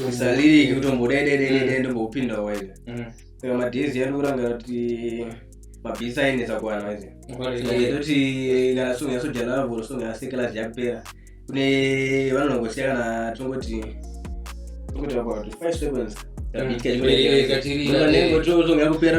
usaliriki utombodededede ndombopinda waive saka madhezi ari kuranga kuti mabhisi ainetsa kuwana waive toti kana song yasojanavo song yasekelasi yapera kune vanhu vangosiya kana tongoti tongoti about five seconds yakupera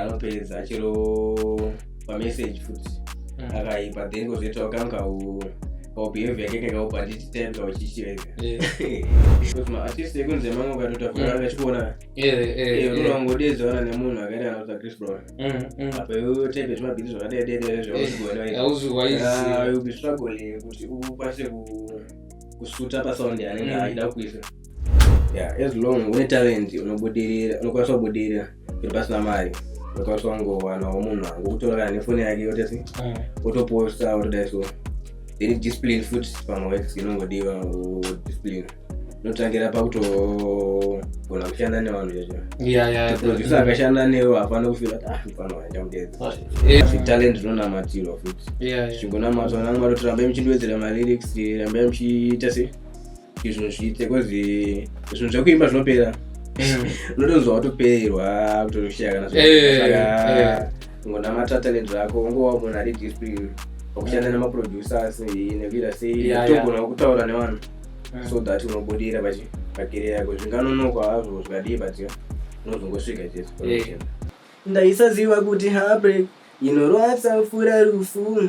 anopedza chero pamessage futi mm. akaipa then kozoitawo kangu kau kaubehavior yake kakaupa handiti time kauchichirega because maartist ekunze mamwe ukatotavura mm. vachikuona unongodedzana nemunhu akaita kana kuti chris brown mm, mm. apa iwe type zvemabhiti zvakadaidaidai zvauziwaizviubi ah, struggling kuti ukwanise kusuta pasound yanenge aida kuisa yeah, as long une talent unobudirira unokwanisa kubudirira kuti pasina mari unokwanisa kungowanawo munhu wangu kutora kana nefoni yake yotesi mm. wotoposta wotodai so then discipline futi pamwe works inongodiwa discipline notangira pakutogona kushanda nevanhu chezvoproducer akashanda newe hapana kufira kuti afanira ah, chamudedzatalent rinonamatirwa futi chingonamatwa namwari kuti rambai muchindiwedzera malyrics rambai muchiita sei izvo zviite kozi zvinhu zvekuimba zvinopera mm. unotonzwa watopererwa kutoshaya kana zvaka ngonamata ne zvako ungowa munhu ari dispri wakushanda nemaproducers nekuita sei togona kutaura nevanhu mm. so that unobudira pakere yako zvinganonokwa hazvo zvikadii but unozongosvika chese ndaisaziva kuti habre inorwadza fura rufu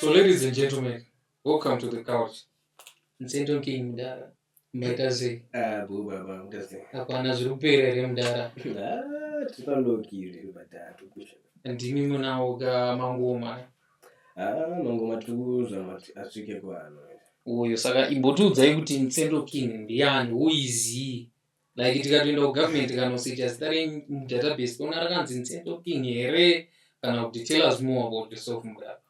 So ladies and gentlemen, welcome to the couch. Msendo King mdara. Mbaita sei? Ah, boo baba, mbaita sei? Hapana zviri kupera here mdara? Ah, tiri pandokiri mdara tukusha. Ndimi munawo ga mangoma. Ah, mangoma tukuza mati asvike kwano. Uyo saka imbotiudzai kuti Msendo King ndiyani? Who is he? like tikatoenda kugovernment kanosecha zita renyu mudatabase toona rakanzi nzendo king here kana kuti tell us more about yourself mudaka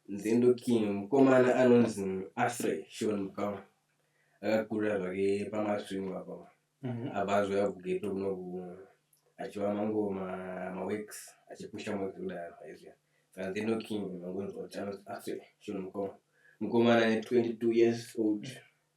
nzendo king mukomana anonzi afrey shon mukama akakurira zvake pamasvingo apa mhm. abva azoya kugeto kunoku achiva mango maweeks achipusha mwezi kudaro aizviya saka nzendo king mangonzi kuti anonzi afrey shon mukoma mukomana ne 22 years old mm -hmm.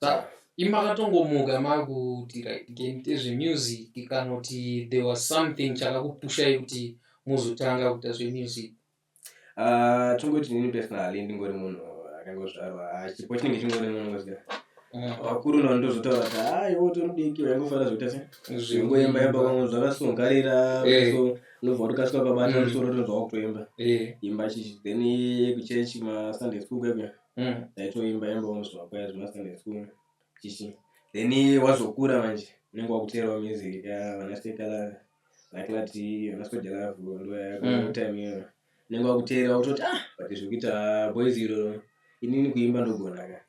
Sa, imakatongomuka makuti right game tezvemusic kanoti there was something chakakupushai kuti muzotanga kuita zvemusic Ah, tongoti nini personally ndingori munhu akangozvarwa ah, chipo chinenge chingori munhu ngoziva Mm. vakuru navo ndozotaura kuti ah iwe utori mudiki waingofana zvekuita se zvingoimba imba kwamwe zvakasungarira Eh. so unobva watokasika ukabata Mm. musoro utonzwa wakutoimba Eh, imba chichi then kuchechi masunday school kwekuya Mm, taitoimba imba unozwa kwaya zvemasunday school chichi then wazokura manje unenge wakuteerawo music vana sekala vaklati vana soja lavu ndoyakotime iyoyo unenge wakuteera kutoti ah but zvekuita boys iro inini kuimba ndogona ka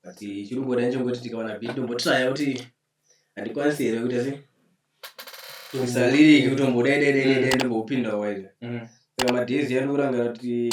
but chiri kuda nechongoti tikawana bit tombotraya kuti handikwanisi here kuita se saliriki kutombodaidaidaidai ndombopinda waida saka madhezi yandikurangira kuti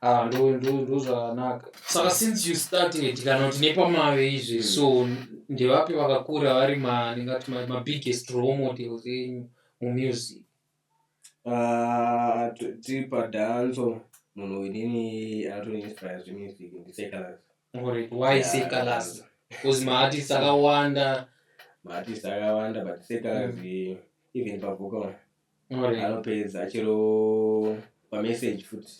Ah, ndo ndo ndo zvakanaka saka since you starting it kana kuti nepamave izvi Mm. so ndevapi vakakura vari ma ndingati ma- mabiggest role models enyu mumusic Ah, t- tiri padhanzo munhu winini anotoinspira zvemusic ndisekalaz Alright, why Yeah. say kalasi bcause maartist akawanda maartist akawanda but sekalaz even pavocal anopedza achiro pamessage futi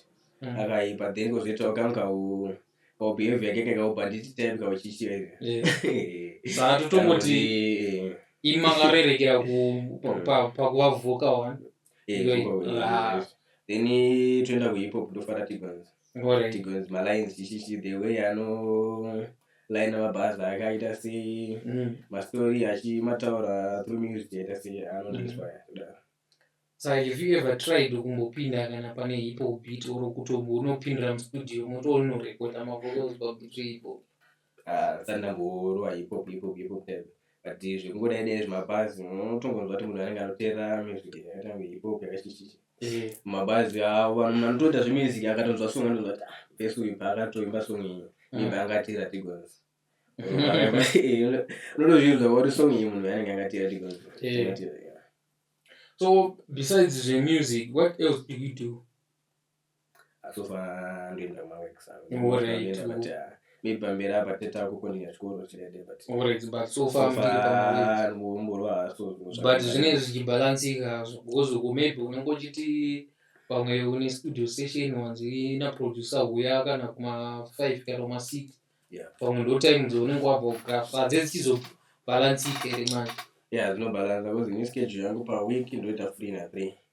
mm. akaipa then kozoitawo kangu kau kaubehavior yake kekaubhanditi type kauchichiaia saka totongoti imi makarerekera pakuva voka one then toenda kuhip hop ndofaratibanza tigonzi malines chichichi the way ano laina mabhazi akaita sei mm. mastori achimataura through music aita sei anoinspire mm. kudaro so have you ever tried kumbopinda kana pane hipo beat or kutombo unopindira mustudio motonorekoda mavocals pabutso ipo ndisati ndamborowa hip hop hip hop hip hop type but zvekungodai dai zvemabhazi unotongonzwa kuti munhu anenge anoteera music yakaita kunge hip hop yakachichichi Eh, mabhazi avo vanhu anotoita zvemusic akatonzwa song anotonzwa kuti ah vese uyu paakatoimba song iyi Mm. imba angatira tigonzi unotozvinzwa kuti song iyi munhu anenge angatira tigonzi Eh. Angatira, yeah. so besides zvemusic what else do you do asofa ndoenda maweeks anondoenda but uh, maybe pamberi apa teta kukonera chikoro chirede but alright but so far mborwa so but zvinenge zvichibalansika hazvo because uko maybe unongochiti pamwe une studio session wanzi naproducer huya kana kuma five kana kuma six pamwe ndo time dzounenge wabva kugraf hadze dzichizobalansika here manje ya dzinobalansa because ini schedule yangu paweek ndoita free na three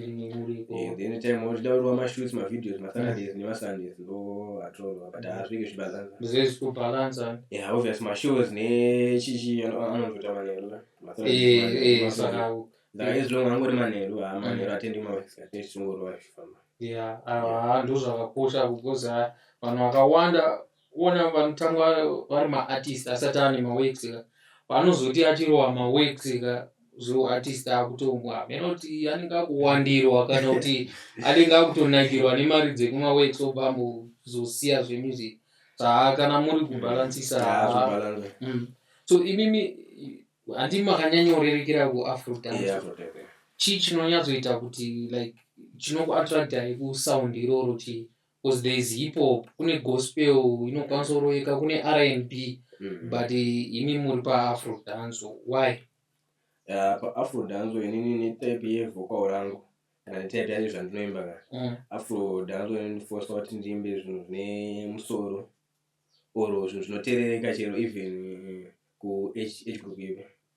Eh, then time wachida kurova mashoots mavideos masaturdays mm. nemasundays ndo atorova but hazvike zvibalansa yeah obvious mashows nechichi anonzota manheru saka izvongo angori manheru ha manheru atendi maexatechingorova zvifamba ya ndozvakakosha kukoza vanhu vakawanda kuona vanotanga vari maartist asati ane maworks ka panozoti achirowa maworks ka zvehuartist akutomwa hameno kuti anenge akuwandirwa kana kuti anenge akutonakirwa nemari dzekumaworks obva ambozosiya zvemusic haa kana muri kubhalansisa mm. so imimi handi makanyanyorerekera kuafrodan chii chinonyatsoita kuti like chinokuattractai kusound iroro chii Because there is hip hop, kune gospel inokwanisa kuroveka, kune R&B mm. but imi muri paafro dance why? Uh, paafro dance inini netype yevocal rangu kana netype yacho zvandinoimba ka mm. afro dance inondifosa kuti ndiimbe zvinhu zvine musoro or zvinhu zvinoterereka chero even ku age group ipi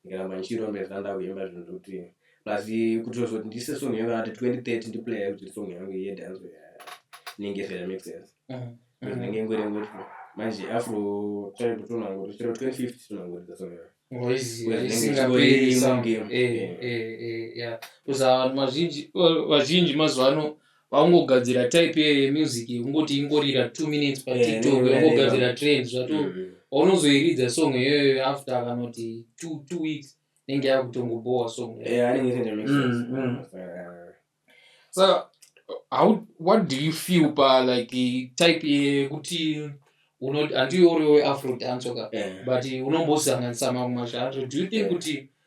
ndikaramba ndichirondedza ndakuimba zvinhu zvekuti plus kuti zoti ndiise song yangu ati 2030 ndiplaya kuti song yangu iye dance inenge isere make sense ndinenge ngori ngori manje afro time kutonangori chero 2050 tonangoridza song yangu vazhinji mazuva ano vaungogadzira type ye- yemusic yekungoti ingorira two minutes Eh, patiktok inongorira yongogadzira neno. trend zvato Mm. paunozoiridza song iyoyo after akanoti two, two weeks inenge yakutongobowa song iyoyo. Eh, anenge isingachita make sense. Mm, mm. Eh, so how what do you feel pa like eh, type yekuti unoti handiwe uri weafro dancer ka eh. but unombosanganisa mamwe mazvato do you think Yeah. kuti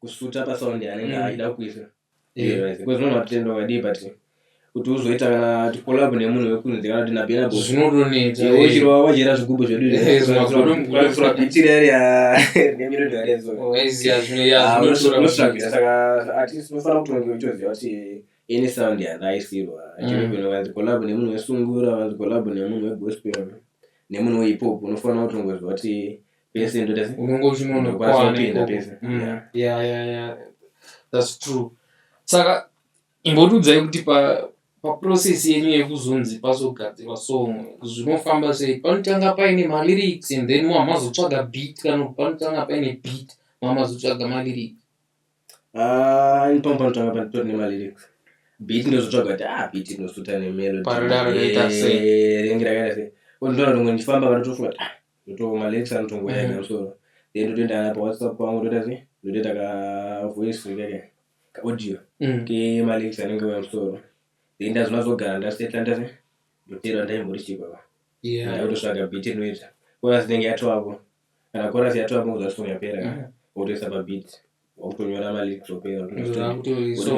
kusuta pasound yanenge mm. aida kuisa because munhu matenda wakadii but kuti uzoita kana tikolab nemunhu wekunzi kana kuti nabenabo zvinotonetauchirwa wachera zvigubhu zveduunotsvagisaka atinofanira kutonge uchoziva kuti any sound yandaisirwa chirebenovanzikolab mm. nemunhu wesungura vanzikolab nemunhu wegospel nemunhu wehipop unofanira kutongoziva kuti pese unenge uchinonokwaaupinda pese mm. yeah yeah yeah that's true saka imbotiudzai kuti pa paprocess yenyu yekuzonzi pazogadzirwa song zvinofamba sei panotanga paine malyrics and then mamazotsvaga beat kana panotanga paine beat mamazotsvaga malyrics ah, ipamo panotanga panitori nemalyrics beat ndinozotsvaga kuti ah beat inosuta nemelodynge rakaita sei ondoona rimwe ndichifamba vanotofunga kuti ah ndotooma lex anotongoya ega musoro then ndotoenda kana pawhatsapp pangu ndoita sei ndotoita kavoice keke kaaudio mm. kemalex anenge uya musoro then ndazona zogara ndasetla ndase ndoteerwa ndaimbori chii baba ndakutotsvaga bit rinoita koras inenge yatoako kana koras yatoako kuza song yapera mm. wotoisa pabit wakutonyora malex opera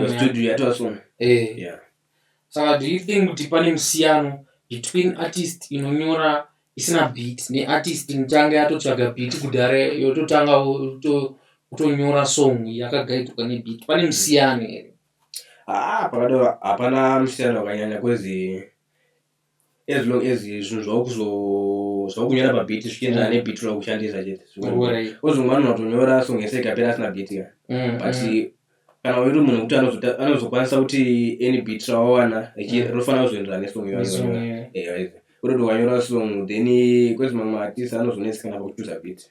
studio yatoasong eh. yeah Saka do you think kuti pane musiyano between artist inonyora isina beat ne artist inotanga yatotsvaga beat kudhara yototanga kutonyora song yakagaidzwa ne beat pane musiyano here? Haa ah, pakadaro hapana musiyano wakanyanya kwezi as long as zvinhu zvakunyora pabit zvichienderana mm. nebit rakushandisa cheteozongwana unotonyora song yese ikapera asina bit ka mm, but mm. kana uri munhu kuti anozokwanisa kuti any bit rawawana rofanira kuzoenderana nesong yoyoyoyoyo kutoti ukanyora song then kwezi mamwe artist anozonetsekana pakuchuza bit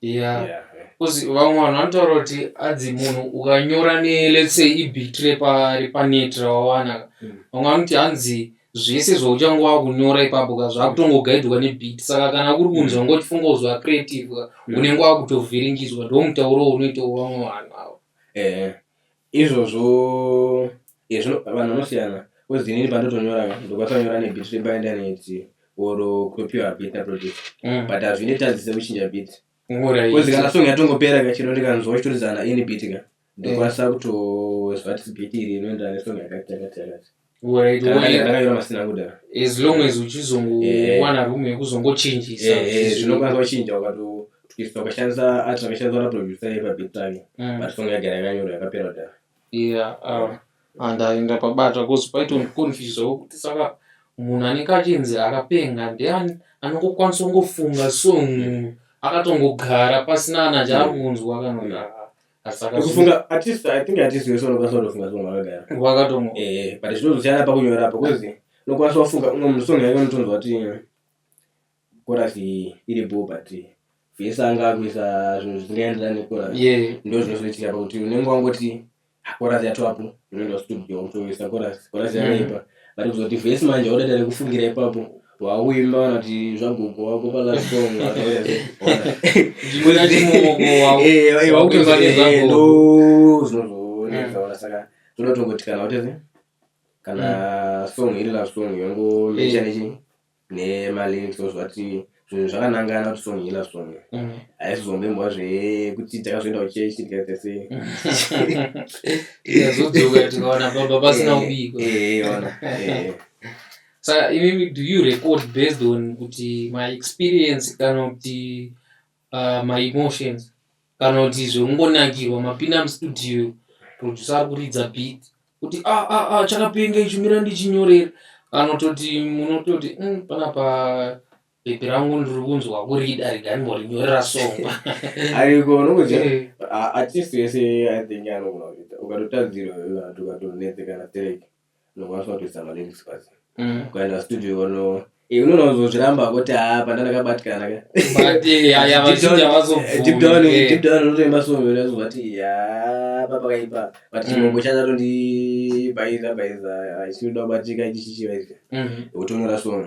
yeah yeah because vamwe vanhu vanotaura kuti adzi munhu ukanyora ne let's say ibit repa repanet rawawana Mm. vamwe vanoti hanzi zvese zvauchange wakunyora ipapo ka zvakutongogaidwa nebit saka kana kuri kunzi Mm. wanga uchifunga kuzova creative ka Mm. unenge wakutovhiringidzwa ndo mutauro unoitawo vamwe vanhu avo eh Izvozvo ezvino eh, vanhu vanosiyana kozi inini pandotonyora ndokatonyora nebit repaindaneti or kutopiwa bit naproject mm. but hazvine tadzise kuchinja bit kozi kana song yatongopera ka chino ndikanzwa uchitorizana ini bit ka ndokwanisa mm. kutoziva kuti bit iri inoenderana nesong yakati yakati yakati as long as uchizongowana eh. room yekuzongochinjisa eh, eh, zvinokwanisa kuchinja ukatotwista ukashandisa art akashandiswa naproducer yepabig time mm. but song yagara yakanyora yakapera kudhara yeah um, and ah, aenda pabata bcause paitoconfusawo kuti saka munhu anenge achinzi akapenga ndeani anongokwanisa kungofunga song akatongogara pasina ana chaari kunzwa kana kufunga at least i think at least weso unokwanisa kutofunga zvinhu wakagara wakatongo eh but zvinozosiyana pakunyora apa kozi unokwanisa wafunga umwe munhu song yake unotonzwa kuti korasi iri bo but vese anga akuisa zvinhu zvisingaenderana nekorasi yeah ndo zvinozoitika pakuti unenge wangoti korasi yatoapo unoenda studio unotoisa korasi korasi yakaipa but kuzoti vese manje waudada rekufungira ipapo wauimba vanoti zvagogo wako palaondozinozooneaasaka zvonotongotikana wateze kana mm. song iri love song yongomecha nechi mm. nemalyrics ozvati zvinhu zvakanangana kuti song iri love song mm. haisizombembwa zvekuti takazoenda kuchechi tikatese tikazodzokatikaona baba pasina ubiko saka imimi do you record based on kuti my experience kana kuti uh, my emotions kana kuti zvekungonakirwa mapinda mustudio producer ari kuridza beat kuti a ah, a ah, a ah, chakapenga ichi mira ndichinyorera kana kutoti munototi mm, panapa bepi rangu ndiri kunzwa kurida riganimborinyorera songwa ariko unongoziva eh. atist yese i think anogona kuita ukatotadzirwa ukatotonetsekana tereke unokwanisa kutoisa malyrics pasi ukaenda studio ono eh, unoona kuzozviramba kuti haa panda ndakabatikana ka But, eh, ya- ya, Deep down- vazhinji havazobvumi, eh, deep down- eh. deep down unotoimba song unozovati yaa papakaipa but Mm. chimoko chazatondibhaiza bhaiza chinoda kubatika ichi chichivaizika Mhm. wotonyora song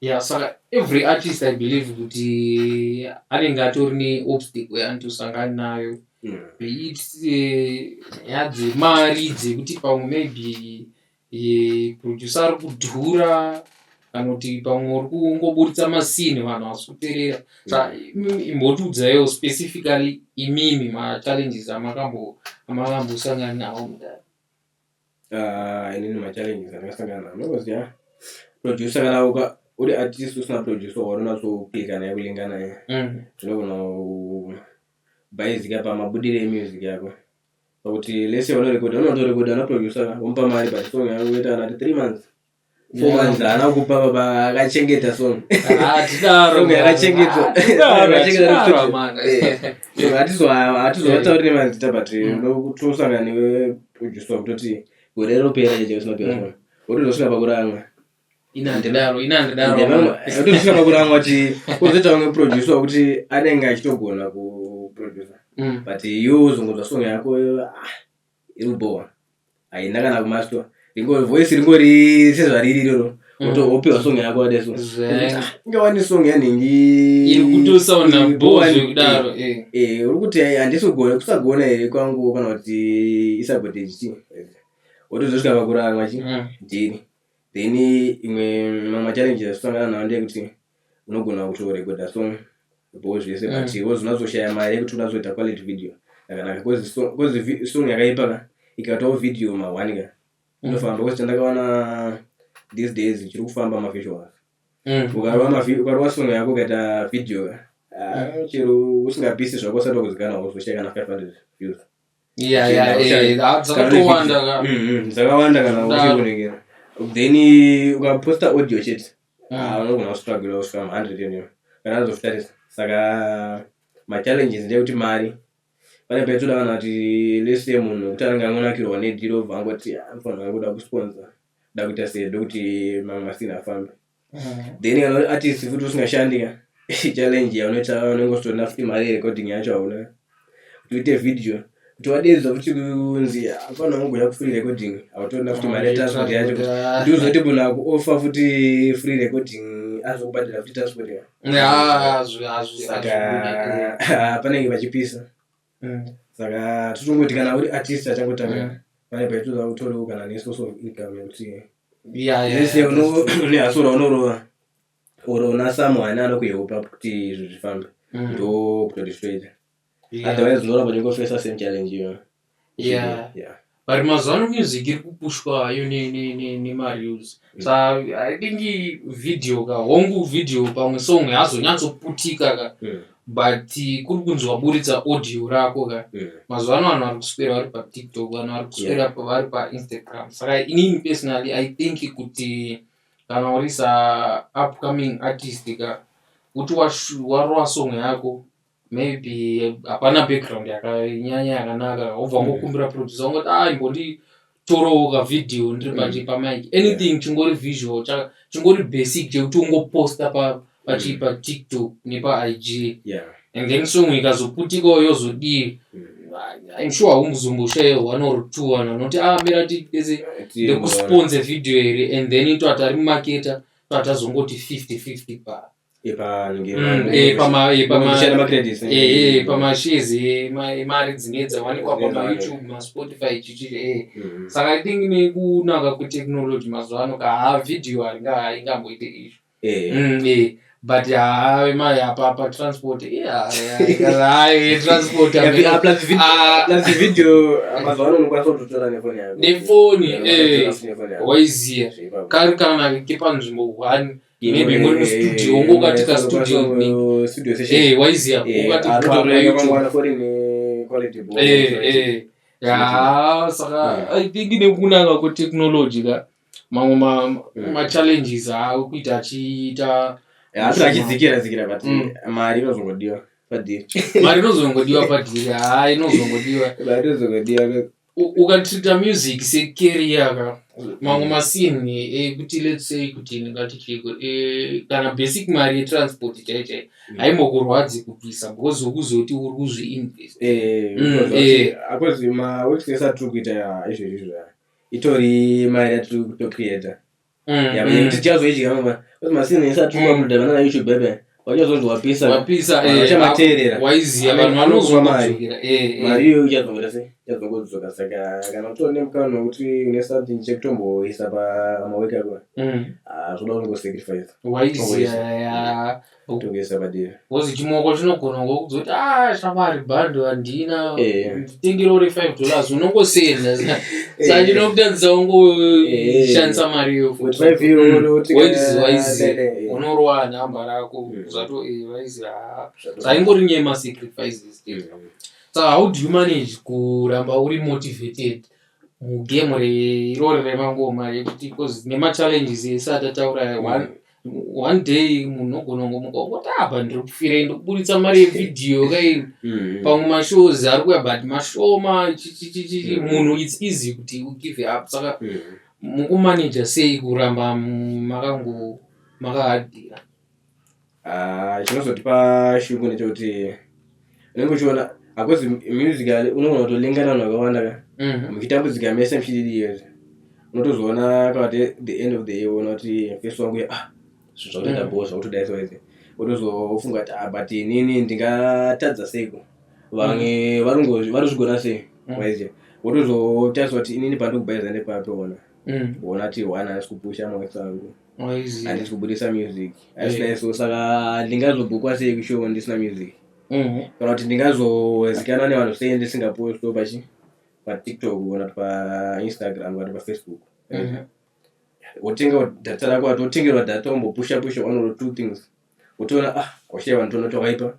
Yeah, saka every artist I believe kuti anenge atori neobstacle yaanotosangana nayo yeah. beit eh, nyaya dzemari dzekuti pamwe maybe eh, producer ari kudhura kana kuti pamwe uri kungoburitsa masini vanhu vasi kuterera sa imbotiudzaiwo specifically imimi machallenges amakambosangana nawo mudari Ah, inini machallenges andakasangana nawo because ya producer kana uka uri artist usina producer waunonatsoklika naye kulinga naye Mm. zvinogona kubhaizika pamabudire emusic yako pakuti lese vanorekoda unotorekoda naproducer ka womupa mari but song yako yoita anati three months haana kupa baba akachengeta sonhatizovataurie mazita but tosangana newe udyiswa kutoti gore ropera chete usina pera sona wotozosvika pakuranga inandidaaotozosvika pakuranga kuti uzoita umwe producer wekuti anenge achitogona kuproducer but iwe uzongonzwa song yako ah, inobhowa haina kana kumastwa ringori voice ringori sezvariri iroro wotopiwa song yako wadeso inga wani song yanhingi uri kuti handisi kugona kusagona here kwangu kana kuti isabotage ti wotozosvika pakurarwa chi dhiri then imwe mamachallenges asosangana nawo ndeyekuti unogona kutorekodha song bho zvese mm. but iwe zvinozoshaya mari yekuti unazoita quality video yakanaka bcause song yakaipa ka ikatawo video mahwani ka mm. inofamba bcause chandakaona these days chiri kufamba mavisual mm. ukarova song yako ukaita video ka ah, chero usingapisi zvako usati wakuzikana wozoshaya kana 500 views dzakawanda kana uchikunengera then ukaposta audio chete Ah, unogona kustruggle kusvika mu 100 yoniyo kana azofitarisa saka machallenges ndeyekuti mari pane paitoda kana kuti lese munhu wekuti anenge angonakirwa nedhiri obva angoti "Ah, mfanha wangu kuda kusponsa da kuita sei ndokuti mamwe masina afambe then kana uri artist futi usingashandi ka challenge yaunoita unenge usitoona futi mari yerecording yacho hauna kuti uite video kuti wadedzwa futi kunzi hapana wangouya kufree recording hautoona futi maretransport yacho ndiuzoti munhu akuofa futi free recording azokubhadhira futi transport saka panenge pachipisa mm. saka totongoti kana uri artist achangotanga mm. pane paitoda kutoriwo kana nesource of income yekuti yese une hasora unorova or una someone anokuhelpa kuti izvi zvifambe mm. ndo kutoti zvitoita otherwise unoona kuti ngofesa same challenge iyona yeah yeah but mazuva ano music iri kupushwa yo nemareels mm. so i think video ka hongu video pamwe song hazonyatsoputika ka mm. but kuri kunzi waburitsa audio rako ka mm. mazuva ano vanhu vari kuswera vari patiktok vanhu vari kuswera vari painstagram saka inini personally i think kuti yeah. kana uri sa upcoming artist ka kuti warova song yako maybe hapana background yakanyanya yakanaka wobva mm. ngokumbira producer ungoti a ah, imbondi torowo ka video ndiri mm. paje pamike anything chingori visual chingori basic chekuti ungoposta pa pachi mm. patiktok nepaig yeah. and then song ikazoputikawo yozodii mm. I'm sure haumuzomboshaya one or two vanhu vanoti ah mira tiese ndekusponse video here and then ito atari mumaketa to atazongoti fifty fifty pa pamashezi mari dzine dzawanikwa pamayoutube maspotify chichii eh. mm-hmm. saka i think nekunaka kwetechnology mazuva ano ka ha video haingamboite izvo Eh. Mm, eh. but haa imari apa pa transport iyaai transport nefoni waiziya kari kana kepanzvimbo one maybe muri mustudio ungo ukati kastudio waiziya ukati haa saka i think nekunanga kwetechnology ka mamwe machallenges aawe kuita achiita asina achidzikira dzikira but mm. mari inozongodiwa padhiri mari inozongodiwa padhiri haa inozongodiwa mari inozongodiwa ukatrita music secareer ka mamwe masini ekuti let's say kuti ndingati chiko e, kana basic mari yetransport chaichai mm. haimbokurwadzi kubvisa because ukuzoti uri kuzviinvest eh, mm, eh. akozima wekutengesa tiri kuita izvezvi zvaya itori mari yatiri kutocreata mm, yava yekuti mm. tichazoidya mama kuti masini isatuma kuda vana na youtube bebe wachazonzi wapisa wapisa vachamateerera eh, waiziva vanhu vanozoa mari eh, eh. mari iyo ichazongera sei ichazongodzoka saka kana kutori nemukana wekuti une something chekutomboisa pamaweki ako mm. ah, zvoda kungosacrifice waiziva kutongesa padera kozi chimoko chinogona ngokuzoti ah shamwari bhando handina eh. nditengere uri five dollars unongosenda sandinokutadzisa eh. ungoshandisa eh. mari yokuwaiziwaizi hmm. unorowa nhamba rako hmm. zvato vaizi ah. zvaingori nyaya masacrifices hmm. so how do you manage kuramba uri motivated mugame irori remangoma yekuti bcause nemachallenges ese atataura one one day munhu ogona kungomuka ongoti apa ndiri kufirei ndikuburitsa mari yevhidhiyo kai mm. pamwe mashows ari kuya but mashoma chichichichi mm. munhu its easy kuti ugive up saka mm. mukumanaja sei kuramba makango makahadira ah, chinozotipa shungu nechekuti unenge uchiona akozi music unogona kutolinga nanhu vakawanda ka mhm. muchitambudzika mese muchididiyez unotozoona kavati the end of the year uona kuti fesi wangu ya ah zvinhu zvakutoenda mhm. boo zvakutoda soizi unozofunga kuti ah but inini ndingatadza seiko vamwe mhm. varungo varuzvigona sei waiziva wotozotariswa kuti inini pandikubayiza nepapi ona ona ti one asi kupusha mawetsangu handisi kubudisa music asinaiso saka ndingazobhukwa sei kushow ndisina music mhm. kana kuti ndingazozikana nevanhu sei ndisingaposto pachi patiktok kana kuti painstagram kana kuti pafacebook mhm. wotenga data rako ati wotengerwa data wombopusha pusha one or two things wotoona ah kwashaiva nditoona twakaipa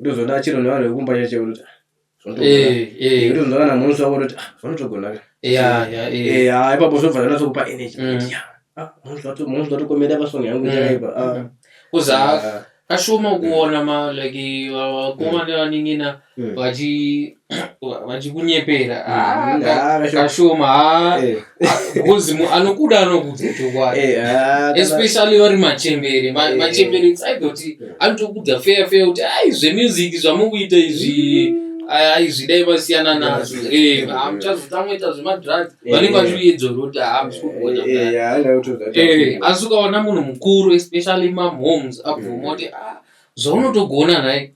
ndozoona achiro nevanhu vekumba chacho kuti zvinotoona kana munhu zvavo kuti zvinotogona ipapo zvobva zvanatsokupa energy munhu zvatokomera pasong yangu chaipa kuza kashoma kuona ma like vakomana vanin'ina vachi vachikunyepera mm, ah, kashoma ah, eh. because anokuda anokudza chokwadi eh, ah, especially vari machembere eh. machembere saidoti anotokudza feya feya kuti ai zvemusic zvamukuita izvi mm. aizvidai vasiyana nazvo hamuchazotamoita zvemadrugs vanenge vachiyedzoro kuti hamusikuona asi ukaona munhu mukuru especially mamoms abvuma kuti zvaunotogona nhai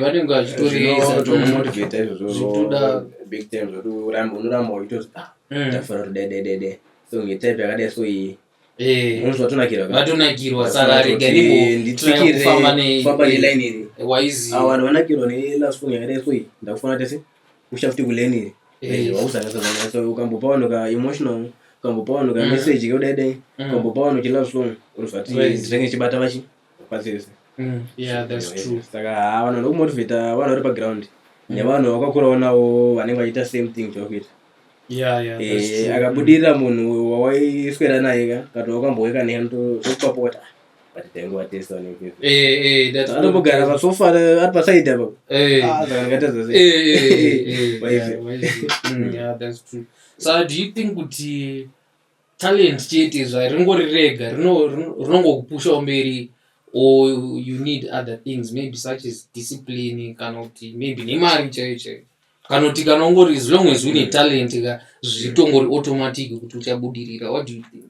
vanenge vachitoreesaomotivata izvozvozvitodaoramba unoramba uchitozi tafanira kuti dededede so ngetype yakadai so iyi vatonakirwa saka regaifamba neline iri waiziva vanhu vanakirwa nelast phone yakadai so iyi ndakufanira tese kusha futi kuleni iri ukambopa vanhu ka emotional ukambopa vanhu ka message keudaidai ukambopa vanhu chilove song unozvati ndinenge chibata vachi pachese mm, saka ah, vanhu vanoda kumotivata vanhu vari paground mm. nevanhu vakakurawo nawo vanenge vachiita same thing chakuita eh, akabudirira munhu wawaiswera naye ka kana wakamboweka nehe tokupapota anombogara pasofa ari pasaidi apo so do you think kuti talent chete zva ringori rega rino- rino- rinongokupushawo mberi or you need other things maybe such as discipline kana kuti maybe nemari chaiyo chaiyo kana kuti kana ungori as long as une talent ka zvitongori automatic kuti uchabudirira what do you think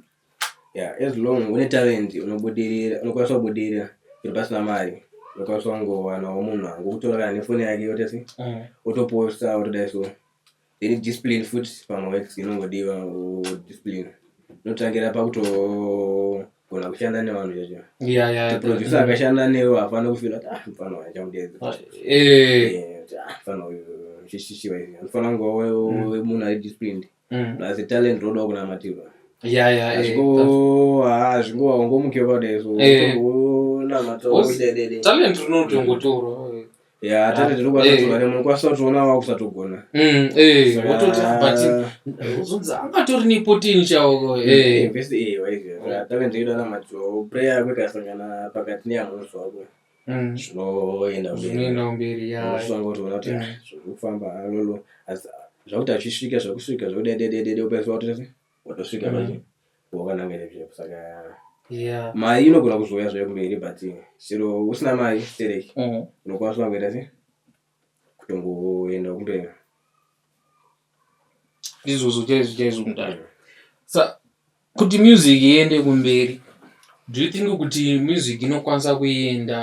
yeah as long une talent unobudirira unokwanisa kubudirira zviri pasina mari unokwanisa kungowanawo munhu angokutora kana nefoni yake yotese Mm. wotoposta wotodai so Then discipline futi pamaworks inongodiwa discipline inotangira pakutogona kushanda nevanhu chacho yeah, yeah, producer yeah. akashanda newe hapana kufila kuti ah mfana uyu achamudeedza ah, eh. eh, ah, mfana uyu chishishiwa izvi anofanira kunge mm. munhu ari disciplined mm. plus talent rodawo kunamatirwa hazvingowa ungomukiwa padai so eh. unamata talent rinotongotorwa Yeah, tati tiri kubata zuva rimwe ukwanisa kutiona wakusatogona Mm, eh, Saka- wototi but uzonzi angatori nepoteni chaoko Eh, eh. best- eh, waizviya. Saka tave ndichida na macho prayer yako ikasangana pakati neyamusi wako Mm. zvinoenda mberi. zvinoenda mberi ya Unosanga kuti uona kuti Mm. ah, zviri kufamba ah, lolo Asi, ah, zvakuti achisvika zvakusvika zvakudedededede ukaiswa kuti watosvika mm. pacho wakananga nezvepo saka yeah. mari inogona kuzouya zvayo kumberi but chero usina mari stereki mm. unokwanisa kungoita se kutongoenda kumberi izvozvo chaizvo chaizvo mudaro sa kuti music iende kumberi do you think kuti music inokwanisa kuenda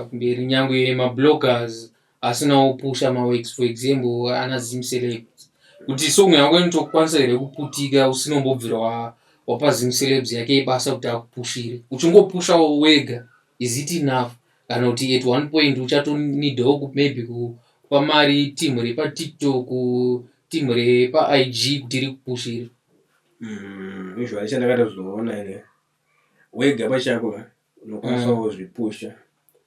kumberi nyangwe mabloggers asina opusha mawex for example ana zim celebs kuti song yako inotokwanisa here kuputika usinombobvira wa, wapa zim celebs yake ibasa kuti akupushire uchingopushawo wega is it enough kana kuti at one point uchatonidawo ku- maybe ku- kupa mari team repatiktok team repaig kuti rikupushire Mm, usually chandakatozoona ine wega pachako unokwanisa mm. kuzvipusha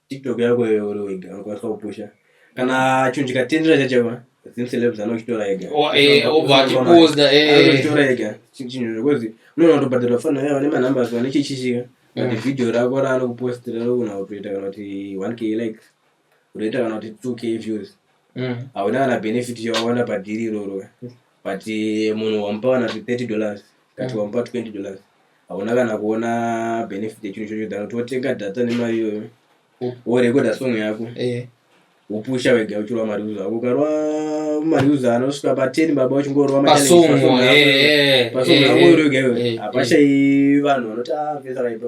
tiktok yako iyoyo uri wega unokwanisa kupusha kana chinhu chikatendera chachaiwa zim celebs anochitora ega oh, eh, obva achiposta anochitora eh. ega chinhu zvekuzi unoona kutobhadharwa fana yavo nemanumbers vane chichishika but mm. video rako raanokupostira rokuna kutoita kana kuti one k likes unoita kana kuti 2k views mm. hauna kana benefit yawawana padhiri iroro but eh, munhu wamupa kana kuti 30 dollars kati mm. wamupa 20 dollars hauna kana kuona benefit yechinhu chocho than kuti wotenga data nemari iyoyo worekoda song yako eh. wopusha wega uchirwa mari uza ako ukarwa mari uza anosvika pa 10 baba uchingorwa mapasong eh, yako iroga iwe hapashai vanhu vanoti ah vesa raipa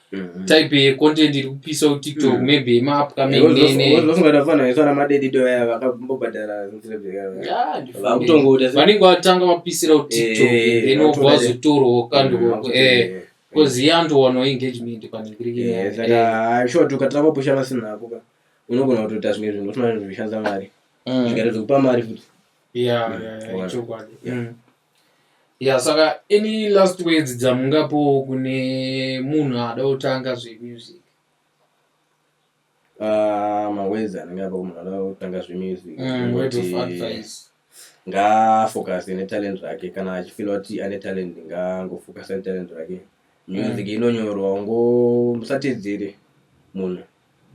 Mhm. type yecontent iri kupisa kutiktok Mm. maybe yemaupcoming nene vozongada fana isana madedido aya vakambobhadhara Yeah, ndifune. vakutongoda se- vanenge vatanga vapisira kutiktok Eh, then wobva vatoda- wazotorwa kandi Mm, wako eh because iye andowanwa engagement pane Eh, kirikina saka sure kuti ukatanga kupusha pasina ako ka unogona kutoita zvimwe zvinhu usina zvinhu zvishandisa mari zvikaita zvekupa mari futi Mm. yeah yeah yeah Word. chokwadi Yeah. Mm. ya saka any last words dzamungapowo kune munhu ada kutanga zvemusic ah, mawords anenge apa munhu ada kutanga zvemusic mm, ngaafocuse netalent rake kana achifila kuti ane talent ngangofocuse netalent rake music mm. inonyorwa ungo musatedzere munhu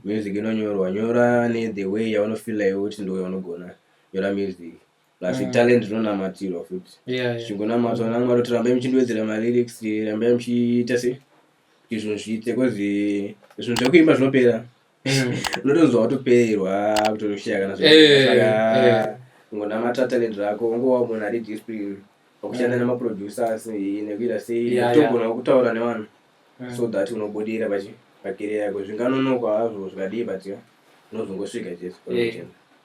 music inonyorwa nyora ne the way yaunofila iwe kuti ndoyaunogona nyora music plus mm. talent rinonamatirwa futi zvichingonamatwa yeah, yeah. namwari kuti rambai muchindiwedzera malyrics rambai muchiita se kuti zvinhu zviite kozi zvinhu zvekuimba zvinopera mm. unotonzwa watopererwa kutoshaya kana zvaka ungonamata talent rako ungowa munhu ari discipline wakushanda mm. nemaproducers nekuita sei togona kutaura nevanhu mm. so that unobudira pachi pakere yako zvinganonokwa hazvo zvikadii but unozongosvika chete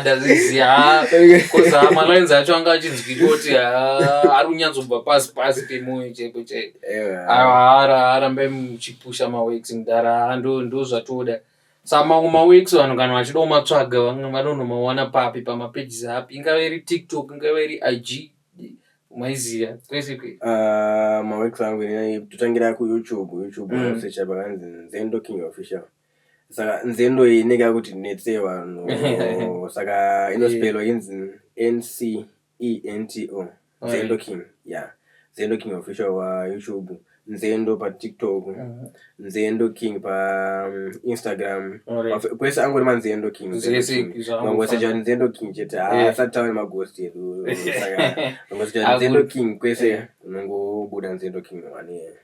ndazviziva bcause malines acho anga achinzwika kuti ari kunyatsobva pasi pasi pemoyo chaipo chaipo arambe muchipusha maweeks mudhara ndozvatoda sa mamwe maweeks vanhu kana vachida kumatsvaga vanonomawana papi pamapages api ingava iri tiktok ingava iri ig maiziva kwese kwe ah, maweeks angu totangira kuyoutube youtube mm. secha pakanzi zendo king official saka nzendo iyi inenge yakuti netse vanhu saka inospelwa inzi ncento nzendo king ya nzendo king official wayoutube nzendo patiktok mhm. nzendo king painstagram mm, kwese angori manzendo king mangoseja nzendo king chete haasati ah, tauri magost edu mangoseja nzendo king kwese unongobuda nzendo king wane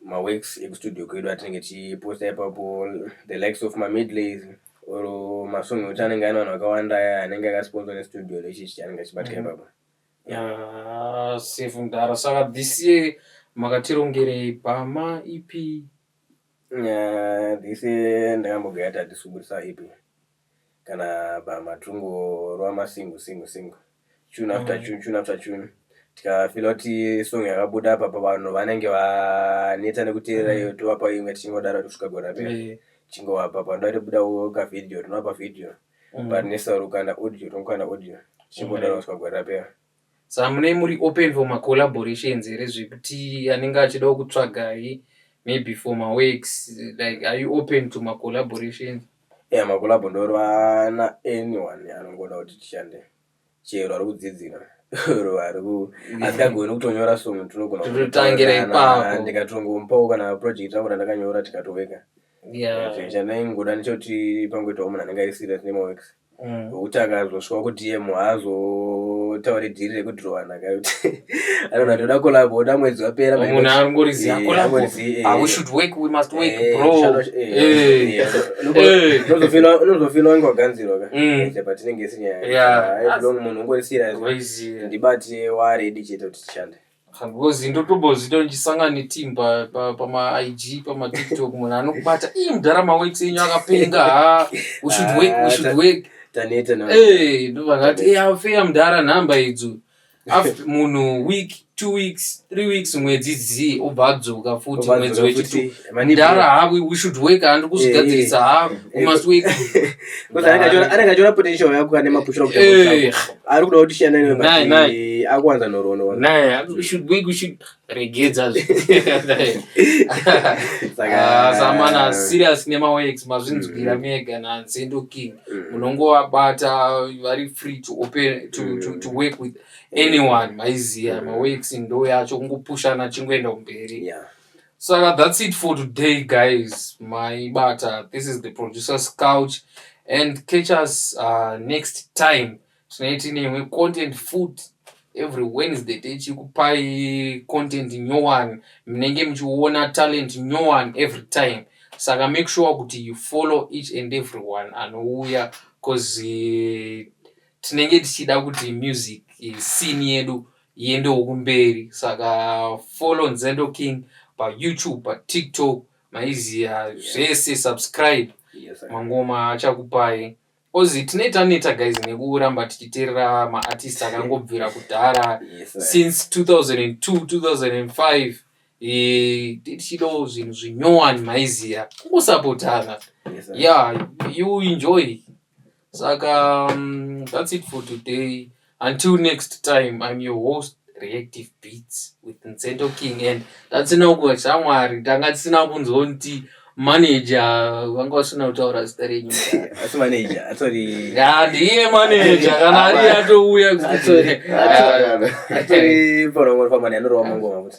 maworks ekustudio kwedu atinenge tichiposta ipapo the likes of mamidlays or masong ekuti anenge aine vanhu vakawanda aya anenge akasponsa nestudio nechichi chanenge achibatika mm-hmm. ipapo ah, safe mdara saka this year makatirongerei bhama ipi this year ndakambogaya tati subudisa ipi kana bama tongorova masingu singu singu tune after tune tune after tune tikafila kuti song yakabuda apa pavanhu vanenge vaneta nekuteerera iyo tovapa imwe tichingodaro kusvika gore rapera Eh, tichingovapa panoda kuti buda ka video tinovapa video but nesaurukanda audio tongokanda audio tichingodaro kusvika gore rapera Saka munei muri open for ma collaborations here zvekuti anenge achidawo kutsvagai maybe for ma works like are you open to ma collaborations? Yeah ma collabo ndorwa na anyone anongoda kuti tishande chero ari kudzidzira or ari ku asingagoni kutonyora song tinogona Tototangira ipapo. kutorana, ndikatongomupawo kana project rangu randakanyora tikatoweka Yeah. zvichana ingoda nechekuti pangoitawo munhu anenge ari serious nema works Mm. Nokuti akazosvika ku DM haazotaure dhiri rekudhirowana ka kuti anonha toda kolabo oda mwedzi wapera munhu Eh, arongoriziva eh, kolabo angoriziva, eh. ah, we should work we must work Eh, bro shano- eh, Eh. eh, unobo- Eh. unozofila- unozofila wange waganzirwa ka Mm. Eh, chapa tinenge sinyaya Yeah. Ah, long munhu ungori serious Crazy. ndibati waredi chete kuti tishande Kagozi ndotombozviita ndichisangana neteam pa- pa- pamaig pamatiktok munhu anokubata ii mudhara maweights enyu akapenga ha we should work we should work taneta na Eh, ndo vanhu vati "Eh, afeya mudhara nhamba idzo after munhu week two weeks three weeks mwedzi zii obva adzoka futi mwedzi wechitu mdara ha we should work handi kuzvigadzirisa eh, ha we must work anenge achiona potential yako ane mapushira kuti eh. ari kuda kuti shiyana newe naye naye akuwanza nhorono naye we should work we should regedza ah, samana serious nemawex mazvinzwira mm. mega nansendo king mm. munongowabata vari free to open to, to, to mm. work with anyone maiziya mawex ndo yacho kungopushana chingoenda kumberi yeah. Saka that's it for today guys. My bata this is the producer's couch and catch us uh, next time. Tonight tineimwe content food every Wednesday tichikupai content nyowani munenge muchiona talent nyowani every time. Saka make sure kuti you follow each and every one anouya cause uh, tinenge tichida kuti music uh, scene yedu iende wokumberi saka follow nzendo king payoutube patiktok maiziya zvese subscribe Yes, sir. mangoma achakupai ozi tine taneta guys nekuramba tichiterera maartist akangobvira kudhara Yes, sir. since 2002 2005 eh, tichidawo zvinhu zvinyowani maiziya kungosapotana Yes, sir. yeah you enjoy saka um, that's it for today until next time i'm your host reactive beats with nzendo king and tatsina kuva shamwari tanga tisina kunzonti manager vanga vasina kutaura zita renyu asi manager atori ya ndiye manager kana ari atouya kuti atori pano ngoma famani anorova mangoma kuti